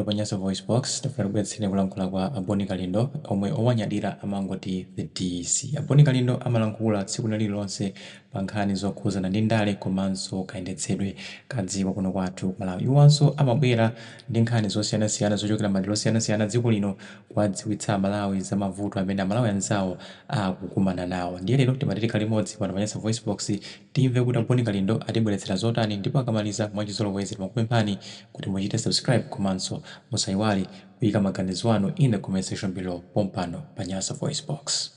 Pa Nyasa VoiceBox, takubweretseni kulankhula kwa a Boni Kalindo omwe owanyadira amangoti The DC. A Boni Kalindo amalankhula tsiku lina lililonse pa nkhani zokhuzana ndi ndale komanso kayendetsedwe ka dziko kuno kwathu ku Malawi. Iwanso amabwera ndi nkhani zosiyanasiyana zochokera madera osiyanasiyana adziko lino kuwadziwitsa a Malawi za mavuto amene a Malawi anzawo akukumana nawo. Ndiye lero timati tikhale limodzi pano pa Nyasa VoiceBox Timve kuti a Boni Kalindo atibweretsera zotani ndipo akamaliza mwachizolowezi timakupemphani kuti muchite subscribe komanso musaiwale kuyika maganizo anu in the comment section below pompano pa Nyasa VoiceBox.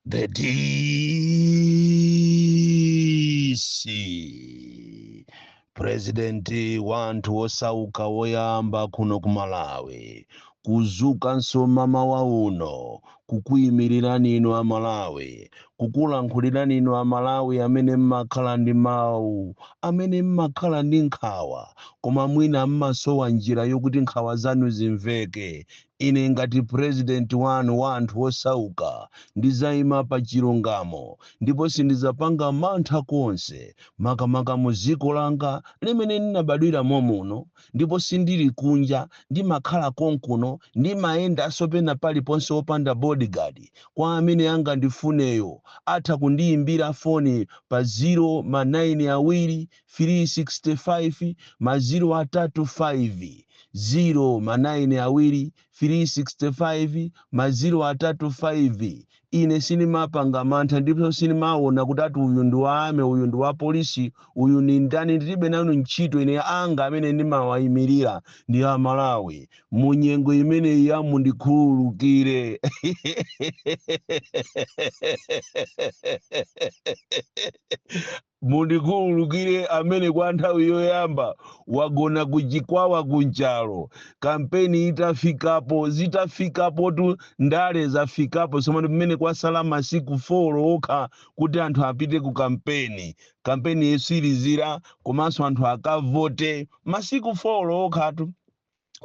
The DC President wa anthu osauka woyamba kuno ku Malawi kudzukanso mmamawa uno kukuimilirani inu a Malawi, kukulankhulirani inu a Malawi amene mmakhala ndi mau, amene mmakhala ndi nkhawa koma mwina mmasowa njira yokuti nkhawa zanu zimveke, Ine ngati president wanu wa anthu osauka ndizaima pa chilungamo ndipo sindizapanga mantha konse makamaka muziko langa limene ndinabadwira momuno ndipo sindili kunja ndimakhala konkuno ndimayendanso pena paliponse opanda bodyguard kwa amene angandifuneyo atha kundiyimbira foni pa zero ma 9 awiri 365 maziro atatu 5 ziro ma naini awiri 365 maziro atatu 5 ine sinimapanga mantha ndipo sinimaona kuti ati uyu ndi wa army uyu ndi wa polisi uyu ni ndani ndilibe nazo ntchito ine anga amene ndimawayimirira ndi amalawi mu nyengo imeneyi ya mundikhululukire Mundikhululukire amene kwa nthawi yoyamba wagona ku Chikwawa ku Nchalo, kampeni itafikapo. Zitafikapotu ndale zafikapo tsomano pamene kwasala masiku 4 okha kuti anthu apite ku kampeni, kampeni yetsirizira komanso anthu akavote. Masiku 4 okhatu.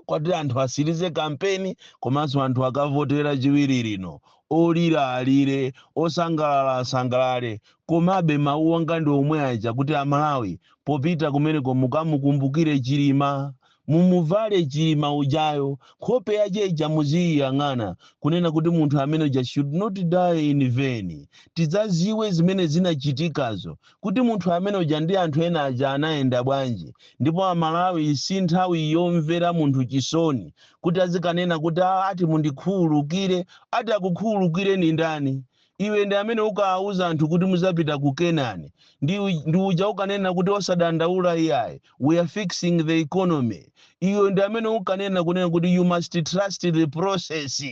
kuti anthu atsirize kampeni komanso anthu akavote lachiwiri lino olira alire osangalala asangalale komabe mawu anga ndi omwe aja kuti amalawi popita kumeneko mukamukumbukire chilima mumuvale chilima ujayo nkhope yache ija muziyiyang'ana kunena kuti munthu amene uja should not die in vain tidzadziwe zimene zinachitikazo kuti munthu amene uja ndi anthu ena aja anayenda bwanji ndipo a Malawi si nthawi yomvera munthu chisoni kuti azikanena kuti "Ah, ati mundikhululukire ati akukhululukireni ndani iwe ndi amene unkawauza anthu kuti muzapita ku Kenani ndi, u- ndi uja unkanena kuti osadandaula iyayi we are fixing the economy iwe ndi amene unkanena kunena kuti you must trust the process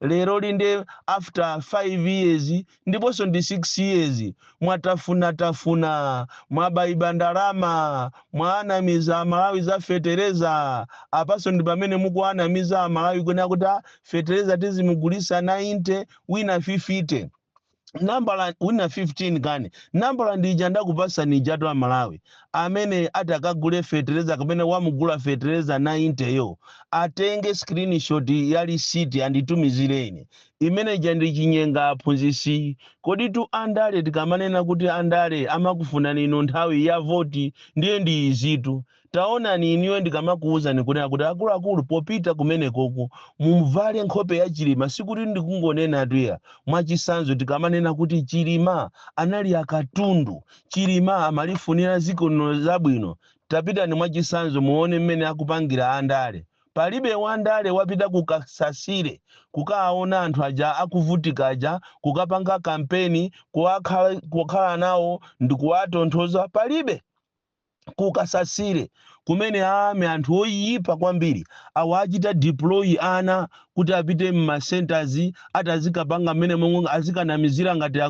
lero linde after 5 years ndiponso ndi 6 years mwatafuna tafuna mwaibaiba ndalama mwaanamiza amalawi za fetereza apanso ndi pamene mukuanamiza amalawi kunena kuti "Ah, fetereza tizimugulisa 90 wina 50 nambala wina 15 kani nambala ndija ndakupasani ijatu amalawi amene atakagule fetereza kapena wamugula fetereza 90 yo atenge screenshot ya lisiti anditumizire ine Imene ija ndi chinyenga mphunzitsi. Koditu andale tikamanena kuti andale amakufunani inu nthawi ya voti ndiye ndi izitu. Taonani inuyo ndikamakuuzani kunena kuti akuluakulu popita kumenekoko muvale nkhope ya Chilima sikuti ndikungonenatu iya. Mwachitsanzo tikamanena kuti Chilima anali akatundu, Chilima amalifunira dziko lino zabwino. Tapitani mwachitsanzo muone mmene akupangira andale. Palibe wandale wapita ku Kasasile kukaawona anthu aja akuvutika aja, kukapanga kampeni, kukakhala nawo ndikuwatonthoza? Palibe. Ku Kasasile kumene a army anthu oyipa kwambiri awachita deploy ana kuti apite mma centres ati azikapanga mmenemo azikanamizira ngati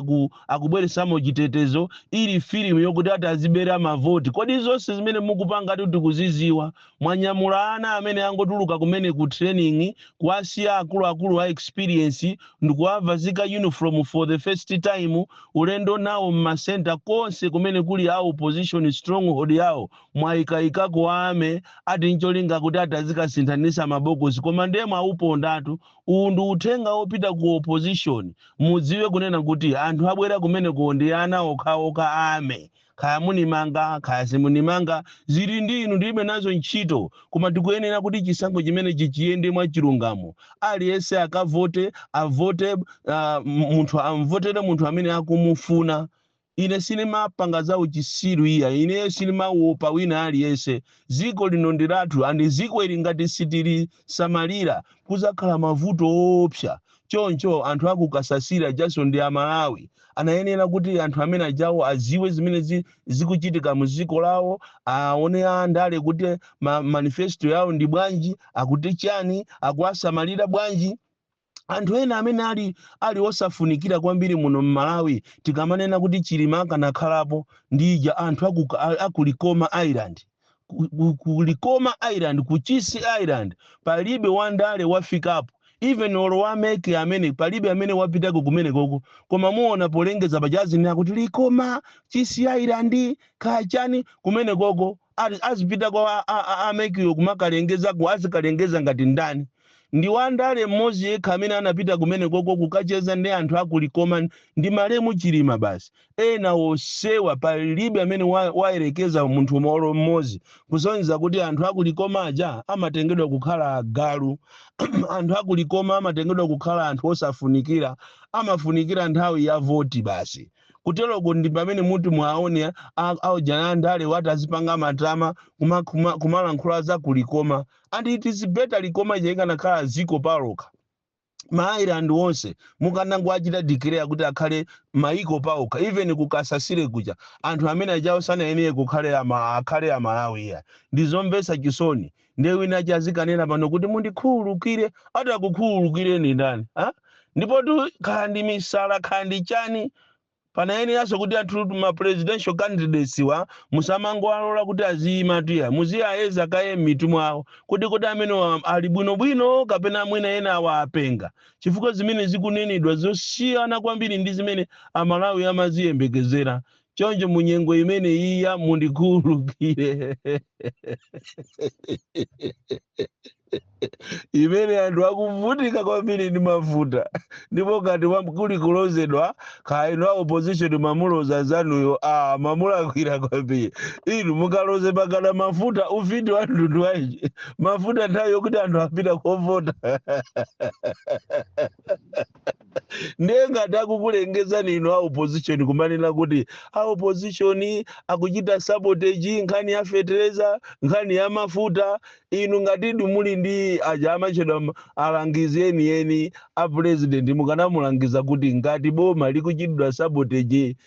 akubweresamo chitetezo ili film yokuti ati azibera ma vote. Kodi zonse zimene mukupangatu tikuziziwa Mwanyamula ana amene angotuluka kumene ku training kuwasiya akuluakulu a experience ndikuwavazika uniform for the first time ulendo nawo mma centre konse kumene kuli a opposition stronghold yawo mwayikaikako a army ati ncholinga kuti ati azikasinthanisa mabokosi koma ndiye mwawupondatu uwu ndi uthenga wopita ku opposition mudziwe kunena kuti anthu abwera kumenekowo ndi ana okhaokha a army Kaya munimanga kaya simunimanga zili ndi inu ndilibe nazo ntchito koma tikuyenera kuti chisankho chimenechi chiyende mwa chilungamo aliyense akavote avote uh, munthu amvotere munthu amene akumufuna ine sinimapanga za uchisiru iya ineyo sinimawopa wina aliyense ziko lino ndi lathu andi ziko ili ngati sitilisamalira kuzakhala mavuto oopsa Choncho anthu a ku Kasasire ajanso ndi a Malawi. Anayenera kuti anthu amene ajawo adziwe zimene zi, zikuchitika mu dziko lawo, aone a ndale kuti ma, manifesto yawo ndi bwanji, akuti chani, akuwasamalira bwanji. Anthu ena amene ali ali osafunikira kwambiri muno m'Malawi tikamanena kuti Chilima akanakhalapo ndi ija anthu aku, a- aku Likoma Island. ku, ku, ku Likoma Island, ku Chisi Island palibe wandale wafikapo even olo wa MEC amene palibe amene wapitako kumenekoko koma muona polengeza pajazi akuti Likoma Chisi Island kachani kumenekoko ali- azipita kwa a- a- a- a MEC wo kumakalengeza ku azikalengeza ngati ndani ndi wandale mmodzi yekha amene anapita kumenekoko kukacheza ndi anthu aku Likoma ndi malemu Chilima basi ena onsewa palibe amene wa, wayerekeza munthu mo- olo mmodzi kusonyeza kuti anthu aku Likoma aja amatengedwa kukhala agalu anthu aku Likoma amatengedwa kukhala anthu osafunikira amafunikira nthawi ya voti basi kuteroko ndi pamene muti muwaone a- aujeni andalewa ati azipanga matama kuma- kuma- kumalankhula za ku Likoma and it is better Likoma ija ikanakhala dziko palokha ma island onse mukanangoachita declare kuti akhale maiko paokha even ku Kasasire kuja anthu amene ajawo sanayenere kukhale ama, akhale amalawi iya ndizomvetsa chisoni ndiye wina aja azikanena pano kuti mundikhululukire ati akukhululukireni ndani ha? ndipotu kaya ndi misala kaya ndi chani Panayeneranso kuti anthu ma presidential candidateswa musamangowalola kuti aziyimatu iya, muziayeza kaye mmitu mwawo kuti kodi amenewa ali bwino bwino kapena mwina ena awa apenga chifukwa zimene zikunenedwa zosiyana kwambiri ndi zimene a Malawi amaziyembekezera choncho mu nyengo imeneyi ya mundikhululukire. imene anthu akuvutika kwambiri ndi mafuta ndipo ngati kuli kulodzedwa kaya inu a opposition mwamulodza mnzanuyo a mwamulakwira kwambiri inu mukalodze pakana mafuta ufiti wa mtundu wanji mafuta nthawi yokuti anthu apita kovota ndiye ngati akukulengezani inu a opposition kumanena kuti a opposition akuchita sabotage nkhani ya fetereza nkhani ya mafuta inu ngatidi muli ndi aja amatchedwa ma- alangizi enieni a president mukanamulangiza kuti ngati boma likuchitidwa sabotage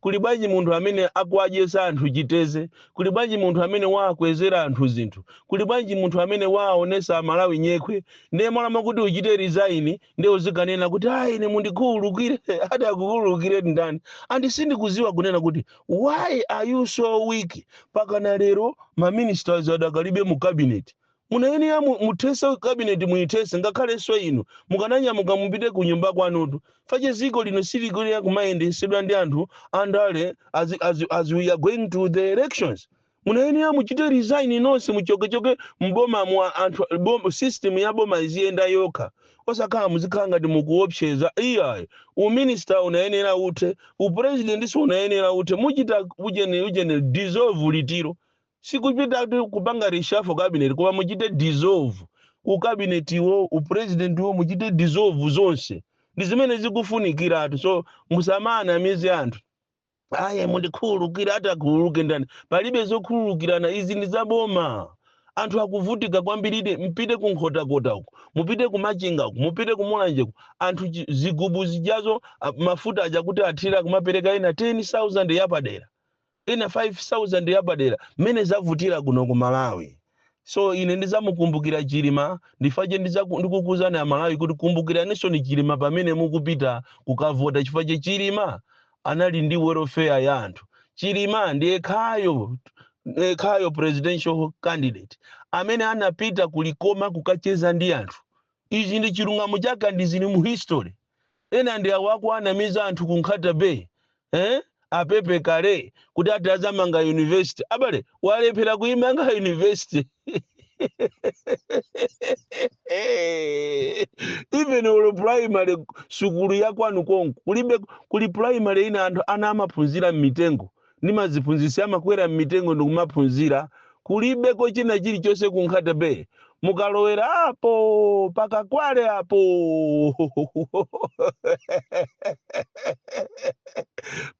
Kuli bwanji munthu amene akuwadyetsa anthu chiteze? Kuli bwanji munthu amene wawakwezera anthu zinthu? Kuli bwanji munthu amene wawaonetsa a Malawi nyekhwe? Ndiye malo mokuti uchite resign ndiye uzikanena kuti ah ine mundikhululukire. Ati akukhululukireni ndani? And sindikuziwa kunena kuti why are you so weak pakana lero ma ministers adakalibe mu cabinet? Munayenera mu, muthese cabinet muyithese ngakhaleso inu mukananyamuka mupite ku nyumba kwanutu chifukwa chake ziko lino silikuyenera kumayendesedwa ndi anthu andale as, as, as we are going to the elections. Munayenera muchite resign nonse muchokechoke m'bomamu a- anthu bom, system ya boma iziyenda yokha osakhala muzikhala ngati mukuopseza iyayi uminister unayenera uthe upresident so unayenera uthe muchita ujeni ujeni dissolve litiro Sikuchita kuti kupanga reshuffle cabinet koma muchite dissolve ucabinet wo, upresident wo muchite dissolve zonse. Ndi zimene zikufunikiratu so musamanamize anthu. Ayi mundikhululukire ati akhululuke ndani? Palibe zokhululukirana izi ndi za boma. Anthu akuvutika kwambiridi mpite ku Nkhotakota uko, mupite ku Machinga uko, mupite ku Mulanje uko. Anthu chi- zigubu zijazo a- mafuta aja kuti athire akumapereka ena 10,000 yapadera. Ena 5000 yapadera mmene zavutira kuno ku Malawi so ine ndizamukumbukira Chilima ndi chifukwa chake ndizaku ndikukuuzani aMalawi kuti kumbukiranisoni Chilima pamene mukupita kukavota chifukwa chake Chilima anali ndi welfare ya anthu Chilima ndi yekhayo yekhayo presidential candidate amene anapita ku Likoma kukacheza ndi anthu ichi ndi chilungamo chake and zili mu history Ena ndi awa akuwanamiza anthu ku Nkhata Bay eeh a Pepekale kuti ati azamanga university. Abale walephera kuimanga university even olo primary sukulu ya kwanu konko kulibe kuli primary ina anthu ana amaphunzira mmitengo ndi maziphunzisi amakwera mmitengo ndikumaphunzira kulibeko china chilichonse ku Nkhata Bay mukalowera apo pa Kakwale apo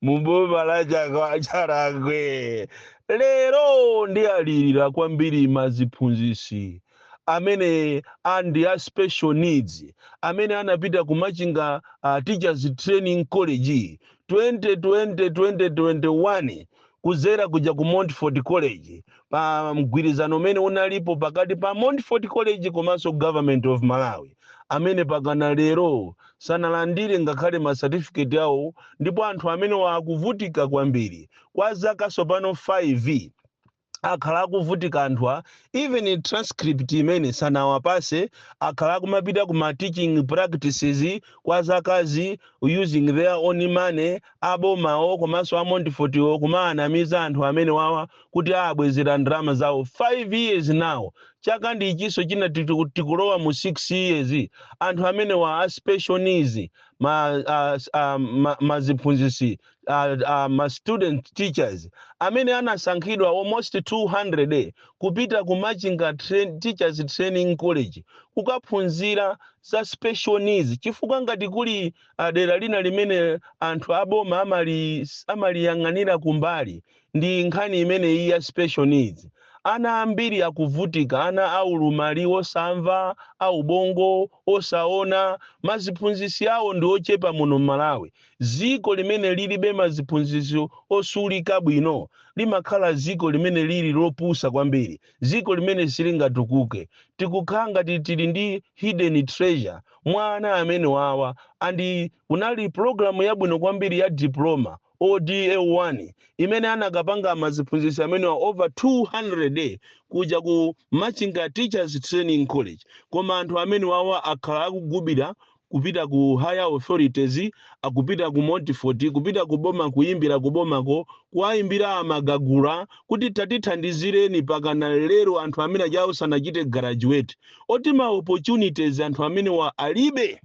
muboma la chaka- Chakwera lero ndiwalirira kwambiri maziphunzisi amene ali ndi a special needs amene anapita ku Machinga uh, Teachers Training College 2020 2021 kuzera kuja ku Montfort College pa mgwirizano umene unalipo pakati pa Montfort College komanso Government of Malawi amene pakana lero sanalandire ngakhale ma certificate awo ndipo anthu amenewa akuvutika kwambiri kwa zaka sopano 5 akhala akuvutika anthuwa even transcript imene sanawapase akhala akumapita ku ma teaching practices kwa zakazi using their own money abomawo komanso a Montfort-wo kumaanamiza anthu amenewawa kuti abwezera ndalama zawo 5 years now chaka ndi ichinso china tiku- tikulowa mu 6 years anthu amenewa a special needs ma, a, a, ma, maziphunzisi uh, uh, maziphunzisi ma student teachers amene anasankhidwa almost 200 kupita ku Machinga train, Teachers Training College kukaphunzira za special needs chifukwa ngati kuli uh, dera lina limene anthu aboma amali amaliyang'anira kumbali ndi nkhani imene iyi ya special needs ana ambiri akuvutika ana a ulumali wosamva a ubongo osaona maziphunzisi awo ndi ochepa muno mmalawi ziko limene lilibe maziphunzisi osulika bwino limakhala ziko limene lili lopusa kwambiri ziko limene silingatukuke tikukhala ngati tili ndi hidden treasure mwa ana amene wawa and kunali program yabwino kwambiri ya diploma ODA1 imene anakapanga maziphunzisi amenewa over 200 kuja ku Machinga Teachers Training College koma anthu amenewawa akhala akugubira kupita ku higher authorities akupita ku Montfort kupita ku boma kuyimbira ku bomako kuwayimbira a Magagula kuti tatithandizireni pakana lero anthu amene ajawo sanachite graduate oti ma opportunities anthu amenewa alibe.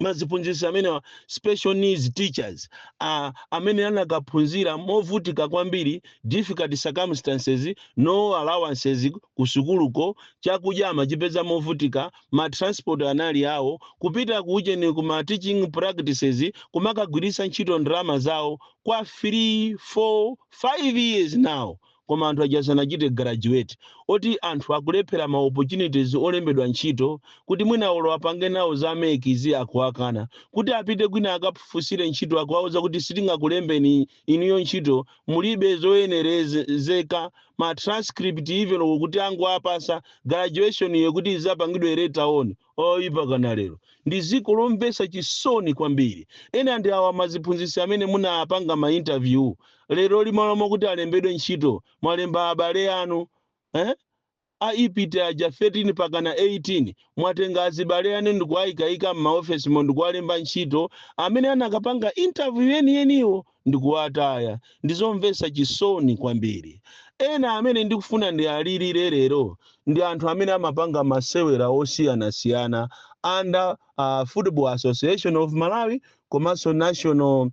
maziphunzisi amenewa special needs teachers uh, amene anakaphunzira movutika kwambiri difficult circumstances no allowances kusukuluko chakudya amachipeza movutika ma transport anali awo kupita kucheni ku ma teaching practices kumakagwirisa ntchito ndalama zawo kwa 3 4 5 years now koma anthu aja sanachite graduate oti anthu akulephera ma opportunities olembedwa ntchito kuti mwina olo apange nawo za MEC zi akuwakana kuti apite kwina akafunsire ntchito akuwauza kuti sitingakulembeni inuyo ntchito mulibe zoyenerezeka ma transcript even kuti angowapasa graduation yo kuti izapangidwe later on Ayi, pakana lero. Ndi ziko lomvesa chisoni kwambiri. Ena ndi awa maziphunzisi amene munapanga ma interview leroli malo mokuti alembedwe ntchito mwalemba abale anu eh? a IPTE aja 13 pakana 18 mwatenga azibale anu ndikuwaikaika mmaofesimo ndikuwalemba ntchito amene anakapanga interview yeniyeniwo ndikuwataya. Ndi zomvesa chisoni kwambiri. Ena amene ndikufuna ndialilire lero ndi anthu amene amapanga masewera osiyanasiyana under uh, Football Association of Malawi komanso National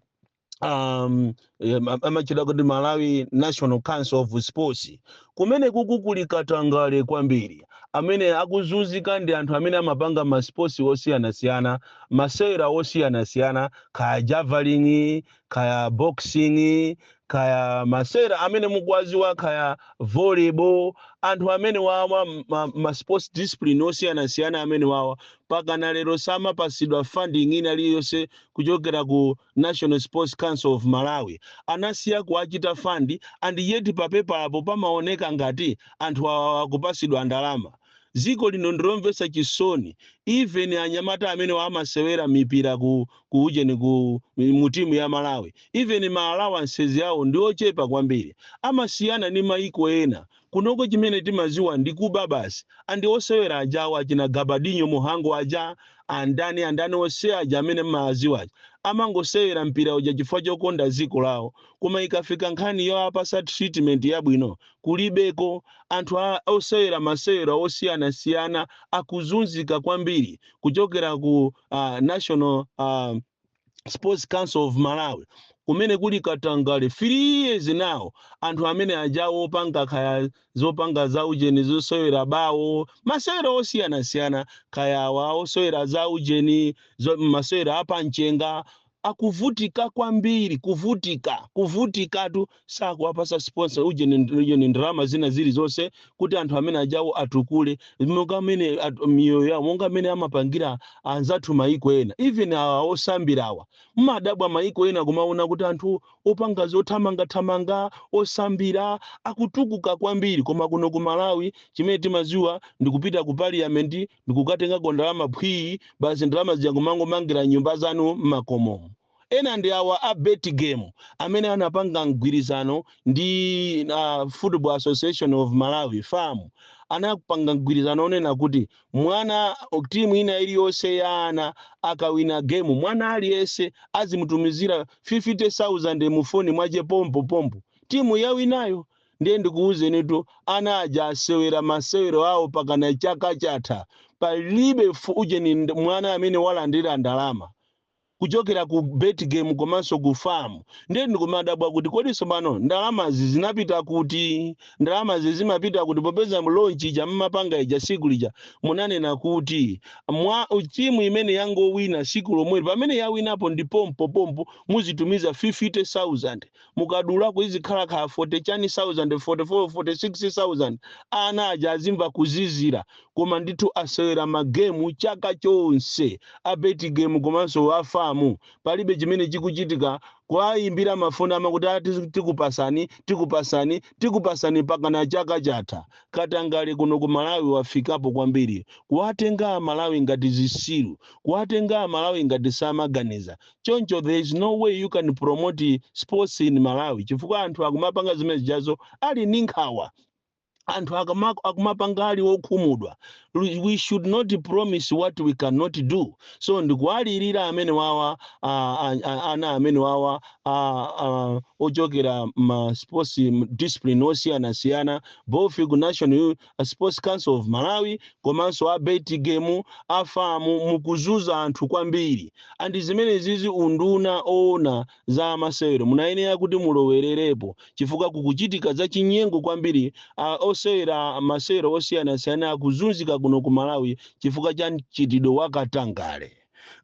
um, em, am- amatchedwa kuti Malawi National Council of Sports kumene kuku kuli katangale kwambiri amene akuzunzika ndi anthu amene amapanga masports osiyanasiyana masewera osiyanasiyana kaya javelin kaya boxing kaya masewera amene mukuwaziwa kaya volleyball anthu amene wawa ma, ma sports discipline osiyanasiyana amene wawa pakana lero samapasidwa funding ina iliyonse kuchokera ku national sports council of malawi anasiya kuwachita fund and yet papepalapo pamaoneka ngati anthu awa akupasidwa ndalama ziko lino ndilomvesa chisoni even anyamata amene amasewera mipira ku ku ujeni ku mu timu ya malawi even ma allowances awo ndiochepa kwambiri amasiyana ndi maiko ena kunoko chimene timaziwa ndi kuba basi and osewera ajawo achina gabadinho muhango aja andani andani ose aja amene mmawaziwa aja amangosewera mpira uja chifukwa chokonda ziko lawo koma ikafika nkhani yoapasa treatment yabwino kulibeko, anthu a, osewera masewera osiyanasiyana akuzunzika kwambiri kuchokera ku a, National a, Sports Council of Malawi kumene kuli katangale 3 years now anthu amene aja opanga kaya zopanga za ujeni zosewera bawo masewera osiyanasiyana kaya awa osewera za ujeni zo- masewera apamchenga Akuvutika kwambiri, kuvutika, kuvutikatu, sakuwapasa sponsor ujeni ndi ujeni ndalama zina zilizonse kuti anthu amene ajawo atukule monga mmene at- miyoyo yawo monga mmene amapangira anzathu maiko ena even awa osambirawa mmadabwa maiko ena kumaona kuti anthu opanga zothamangathamanga osambira akutukuka kwambiri koma kuno ku malawi chimene timaziwa ndikupita ku parliament ndikukatengako ndalama phwii basi ndalama zija nkumangomangira nyumba zanu mmakomo. Ena ndi awa a Betgame amene anapanga mgwirizano ndi uh, Football Association of Malawi FAM anapanga mgwirizano onena kuti mwana timu ina iliyonse ya ana akawina gemu mwana aliyense azimutumizira 50,000 mufoni mwache pompo pompo timu yawinayo Ndiye ndikuwuzenitu, ana aja asewera masewero awo pakana chaka chatha palibe fu ujeni nd mwana amene walandira ndalama kuchokera ku Betgame komanso ku fam. Ndiye ndikumadabwa kuti kodi sopano ndalamazi zinapita kuti? Ndalamazi zimapita kuti popeza launch ija mmapanga ija siku lija munanena kuti mwa timu imene yangowina siku lomweli pamene yawinapo ndi pompo pompo muzitumiza 50,000. mukadulako izikhala kaya 40 chani sauzande 44 46 sauzande ana aja azimva kuzizira koma ndithu asewera magemu chaka chonse a Betgame komanso a FAM palibe chimene chikuchitika kuwayimbira mafoni amakuti a tizi- tikupasani tikupasani tikupasani pakana chaka chatha katangale kuno ku malawi wafikapo kwambiri kuwatenga amalawi ngati zisiru kuwatenga amalawi ngati samaganiza choncho there is no way you can promote sports in malawi chifukwa anthu akumapanga zimene zijazo ali ndi nkhawa anthu akama- akumapanga ali okhumudwa Lu- we should not promise what we cannot do so ndikuwalirira amene wawa ah, ah, ah, ana amene wawa ah, ah, ochokera ma sports discipline osiyanasiyana both ku national a sports council of malawi komanso a bet game a FAM mukuzuza anthu kwambiri and zimenezizi unduna owona za amasewero munayenera kuti mulowererepo chifukwa kukuchitika za chinyengo kwambiri osewera masewero osiyanasiyana akuzunzika kuno ku malawi chifukwa cha mchitidwe wa katangale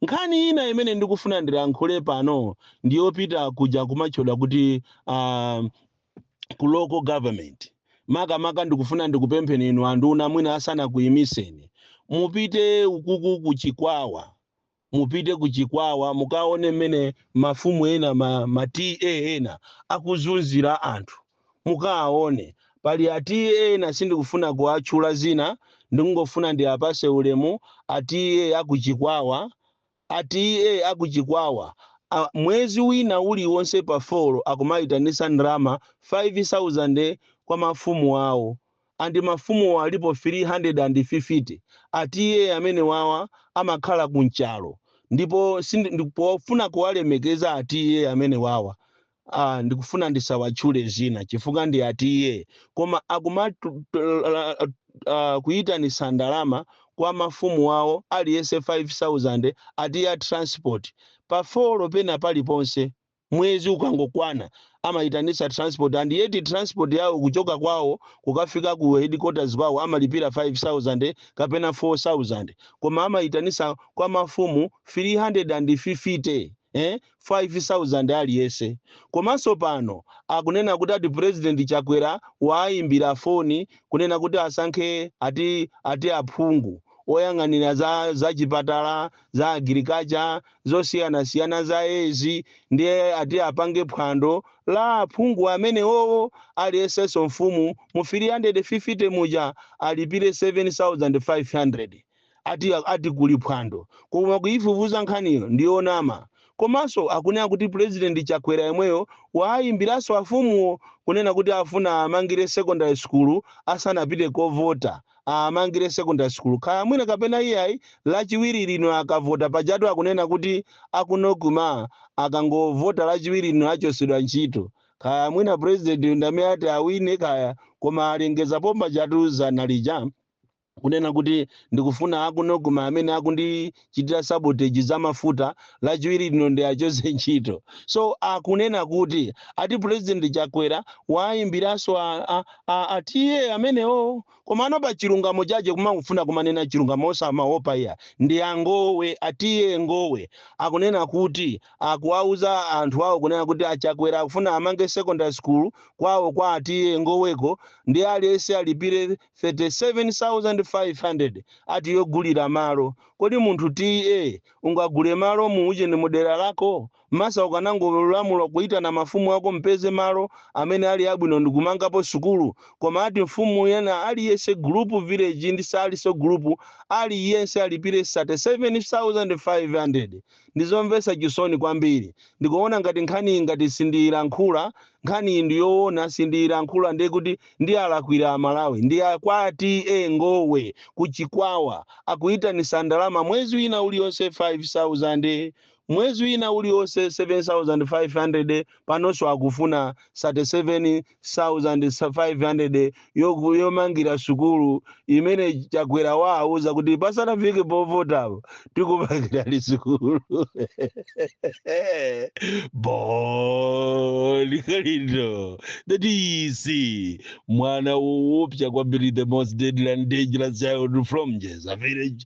nkhani ina imene ndikufuna ndilankhule pano ndiyopita kuja kumatchedwa kuti uh, ku local government makamaka ndikufuna ndikupempheni inu anduna mwina asanakuyimiseni mupite ukuku ku chikwawa mupite ku chikwawa mukaone mmene mafumu ena ma, ma ta ena akuzunzira anthu mukaone pali a ta ena sindikufuna kuwatchula dzina ndikungofuna ndiwapatse ulemu a ta akuchikwawa A TA a ku Chikwawa mwezi wina uliwonse pa 4 akumaitanitsa ndalama 5,000 kwa mafumu awo and mafumuwo alipo 350. A TA amenewawa amakhala ku Nchalo ndipo sindi pofuna kuwalemekeza a TA amenewawa Aaa ndikufuna ndisawatchule dzina chifukwa ndi a TA koma akumatolaaaaa kuyitanisa ndalama kwa mafumu awo aliyese 5000 ati ya transport pa folo pena paliponse mwezi ukangokwana amayitanisa transport and yet transport yawo kuchoka kwawo kukafika ku headquarters kwawo amalipira 5000 kapena 4000 koma amayitanisa kwa mafumu 350 eh 5000 aliyese komanso pano akunena kuti ati president chakwera waayimbira foni kunena kuti asankhe ati ati aphungu oyang'anira za za chipatala za agriculture zosiyanasiyana za ezi ndiye ati apange phwando la aphungu amenewowo aliyesenso mfumu mu 350 muja alipire 7500 ati ati kuli phwando koma kuifufuza nkhaniyo ndiyonama komanso akunena kuti president chakwera yemweyo waayimbiranso afumuwo kunena kuti afuna aamangire secondary school asanapite kovota aamangire secondary school kaya mwina kapena iyayi lachiwiri lino akavota pajatu akunena kuti a Kunkuyu akangovota lachiwiri lino achotsedwa ntchito kaya mwina president ndamene ati awine kaya koma alengezapo pajatu dzana lija kunena kuti ndikufuna aku Nocma amene akundichitira sabotage za mafuta lachiwiri lino ndiachotse ntchito. So akunena kuti ati President Chakwera waimbiranso a, a, a, a TA amenewo komano pa chilungamo chache kumangofuna kumanena chilungamo osamaopa iya ndi a Ngowe a TA Ngowe akunena kuti akuwauza anthu awo kunena kuti a Chakwera akufuna amange secondary school kwawo kwa a TA Ngoweko ndi aliyense alipire 37,500 ati yogulira malo kodi munthu TA ungagule malo mu ujeni mudera lako? Masa ukanangolamula kuyitana mafumu ako mpeze malo amene ali abwino ndikumangapo sukulu koma ati mfumu yena aliyense gulupu village ndi saliso gulupu aliyense alipire 37,500. Ndizomvesa chisoni kwambiri ndikuona ngati nkhaniyi ngati sindiyilankhula nkhaniyi ndiyowona sindiyilankhula ndekuti ndiyalakwira Amalawi ndi a kwa TA Ngowe ku Chikwawa akuyitanisa ndalama mwezi wina uliwonse 5000 mwezi wina uliwonse 7500 panonso akufuna 37 500 yomangira sukulu imene Chakwera waauza kuti pasanafike povotapo tikumangirani sukulu Bon Kalindo the DC mwana woopsa kwambiri the most deadly and dangerous child from Njedza village